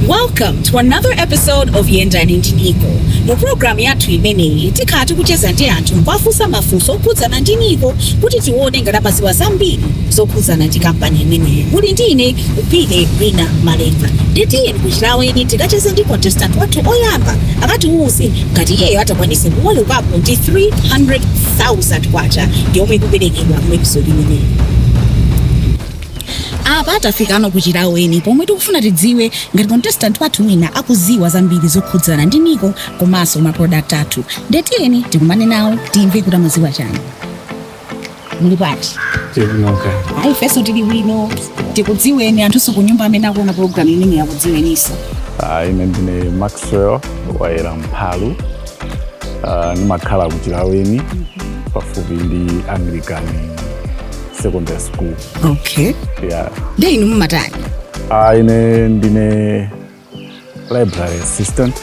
Welcome to another episode of Yendani ndi Niko. Mu programu yathu imeneyi tikhala tikucheza ndi anthu kuwafunsa mafunso okhudzana ndi Niko kuti tione ngati amadziwa zambiri zokhudzana ndi kampani imeneyi muli ndi ine Upile wina Malenga nditiyeni kuchilaweni tikacheze ndi contestant wathu oyamba akatiwuze ngati iyeyo atakwanise kuwolokako ndi 300000 kwacha yomwe ikuperekedwa mu episode imeneyi apa tafikano kuchilaweni pomwe tikufuna tidziwe ngati contestant wathu wina akuziwa zambiri zokhudzana ndi niko komanso maproduct athu ndetiyeni tikumane nawo timve kuti amaziwa chani muli bwanji tikunoka ayi ifenso tili bwino tikudziweni anthu ku nyumba amene akuona programu imeneyi akudziweninso ine ndine maxwell wayera mphalu Ah, ndimakhala ku chilaweni pafupi ndi anglican secondary school okay ya ndi inu mumatani Ah, ine ndine library assistant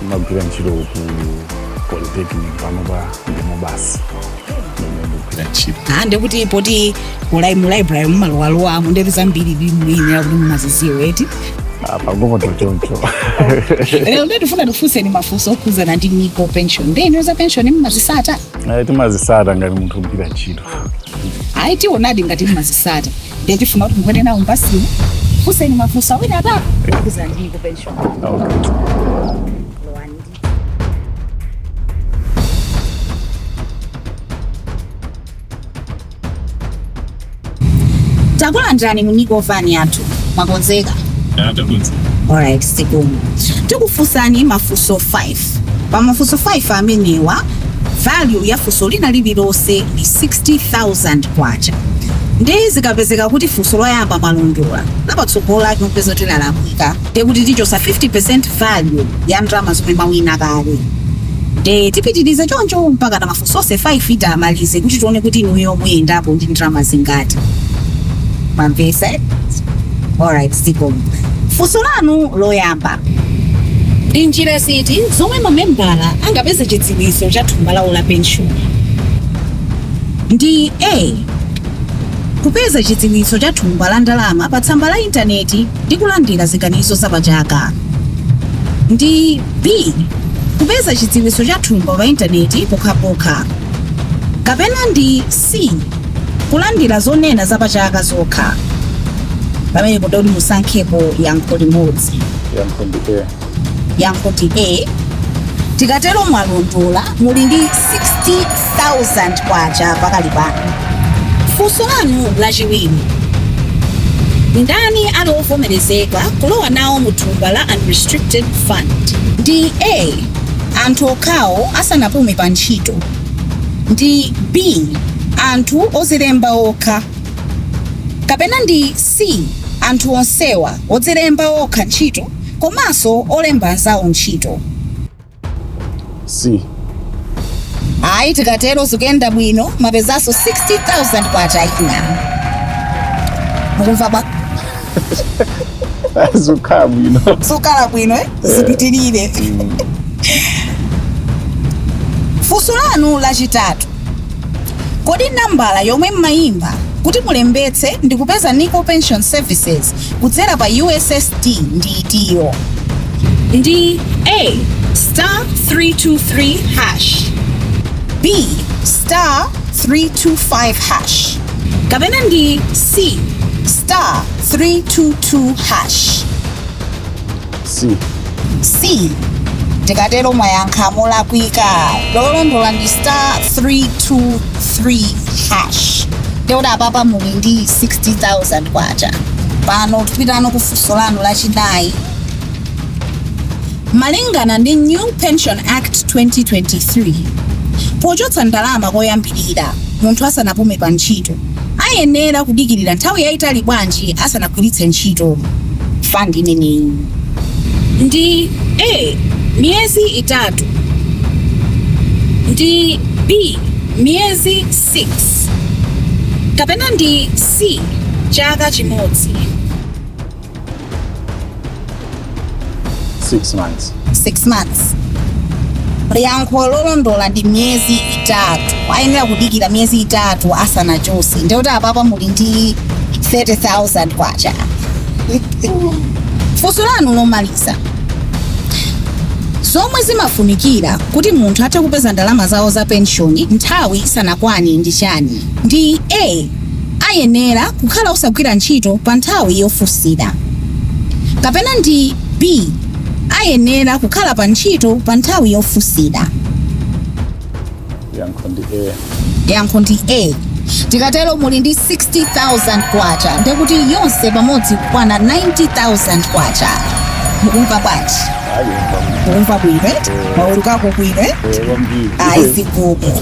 ndimagwira ntchito ku polytechnic panopa ndimo basi ndimene ndikugwira ntchito Ah, ndekuti poti ulai mu library mumalowalowamo ndeti zambiri bimuyinira kuti mumaziziwa eti Ah, pang'onopo choncho lero ndetifuna tikufunseni mafunso okhudzana ndi Niko pension nde inuyo za pension mumazisata Eh, timazisata ngati munthu ogwira ntchito ayi tionadi ngati mmazisata ndiye tifuna kuti mukwere nawo mbasimu tikufunseni mafunso awiri atatu okhudzana ndi Niko pension Lowani. takulandirani mu Niko van yathu mwakonzeka alright zikomo tikufunsani mafunso 5 State. Pa mafunso 5 amenewa, value ya funso lina lililonse ndi K60,000. Ndiye zikapezeka kuti funso loyamba mwalondola, lapatsogolo lake mupeze kuti lalakwika, ndiye kuti tichotsa 50% value ya ndalama zomwe mwawina kale. Ndiye tipitiriza choncho mpaka na mafunso onse 5 titamaliza kuti tione kuti inuyo muyendapo ndi ndalama zingati. Mwamvesa? Alright, zikomo. Funso lanu loyamba. Ndi njira ziti zomwe mamembala angapeze chidziwitso cha thumba lawo la penshoni? Ndi A. Kupeza chidziwitso cha thumba la ndalama pa tsamba la intaneti ndi kulandira ziganizo za pachaka. Ndi B. Kupeza chidziwitso cha thumba pa intaneti pokhapokha. Kapena ndi C. Kulandira zonena za pa chaka zokha. Pamenepo ndikuti musankhepo yankho limodzi. Yankho ndi A. Tikatero mwalondola muli ndi K60,000 pakali pano. Funso lanu lachiwiri. Ndani ali ovomerezeka kulowa nawo mu thumba la unrestricted fund? Ndi A. Anthu okhawo asanapume pa ntchito. ndi B. anthu odzilemba okha kapena ndi C. anthu onsewa, odzilemba okha ntchito komanso olemba anzawo ntchito? C. Ayi, tikatero zikuyenda bwino, mwapezanso K60,000 ina. Mukumva bwa? zikukhala bwino zikukhala bwino eh? zipitirire funso lanu lachitatu kodi nambala yomwe mmayimba kuti mulembetse ndi kupeza nico pension services kudzera pa ussd ndi itiyo ndi a star 323 hash b star 325 hash kapena ndi C star 322 hash. C. C tikatero mwayankha molakwika lolondola ndi star 323 hash ndikuti apapa muli ndi 60000 kwacha pano tipitano kufunso lanu lachinayi Malingana ndi New Pension Act 2023, pochotsa ndalama koyambirira munthu asanapume pa ntchito ayenera kudikirira nthawi yaitali bwanji asanagwiritse ntchito fund imeneyi? Ndi A miyezi itatu Ndi B miyezi 6 Kapena ndi C chaka chimodzi? 6 months 6 months yankho lolondola ndi miyezi itatu ayenera kudikira miyezi itatu asanachotse ndikuti apapa muli ndi 30000 kwacha funso lanu lomaliza zomwe zimafunikira kuti munthu athe kupeza ndalama zawo za penshoni nthawi isanakwane ndi chani ndi a ayenera kukhala osagwira ntchito pa nthawi yofunsira, kapena ndi B. ayenera kukhala pa ntchito pa nthawi yofunsira? Yankho ndi A. Yankho ndi A. Tikatero muli ndi 60,000 kwacha ndiye kuti yonse pamodzi ikukwana 90,000 kwacha. Mukumva bwanji? Ayi, kwambiri. Mukumva bwino eti? Mwawerukako bwino eti? Eh, kwambiri. Ayi zikomo.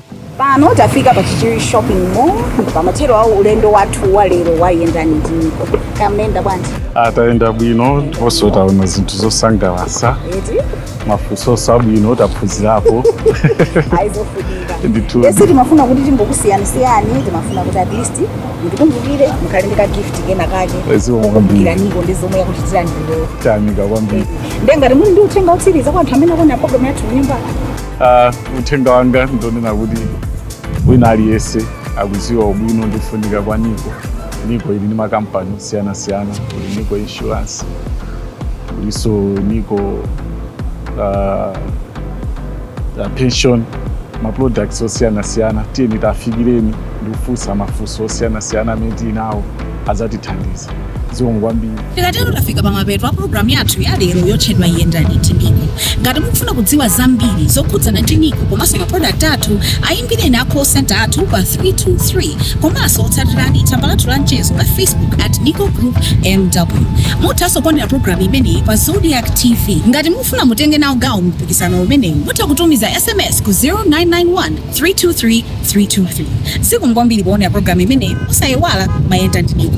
pano tafika pa chichiri shopping mall pamathero a ulendo wathu wa lero wa yendani ndi NICO mwayenda bwanji a tayenda bwino ndiponso taona zinthu zosangalatsa eti mafunso abwino taphunzirapo ayi zofunika ndithu esi timafuna kuti tingokusiyasiyani timafuna kuti at least mutikumbukire mukhale ndi ka gift kena kake Zikomo kwambiri. kukumbukira NICO ndi zomwe yakuchitirani lero tayamika kwambiri nde ngati muli ndi uthenga otsiriza kwa anthu amene akuona program yathu kunyumba Ah, uthenga wanga ndonena kuti wina aliyense akuziwa ubwino ndi kufunika kwa NICO NICO ili ndi makampani osiyanasiyana kuli NICO insurance kulinso NICO ah, ah, pension maproducts osiyanasiyana tiyeni tiwafikireni ndi kufunsa mafunso osiyanasiyana amene tili nawo adzatithandiza. Zikomo kwambiri. Tikatero tafika pamapeto a pulogalamu yathu ya lero yotchedwa Yendani ndi NICO. Ngati mukufuna kudziwa zambiri zokhudzana ndi NICO komanso maprodakiti athu, ayimbireni a call centre athu pa 323 komanso tsatirani tsamba lathu la mchezo la Facebook at Nico Group MW. Muthanso kuonera pulogalamu imeneyi pa Zodiak TV. Ngati mukufuna mutenge nawo gawo mu mpikisano umenewu, mutha kutumiza sms ku 0991 323323 Zikomo kwambiri poonera program imeneyi osaiwala mayenda ndi NICO.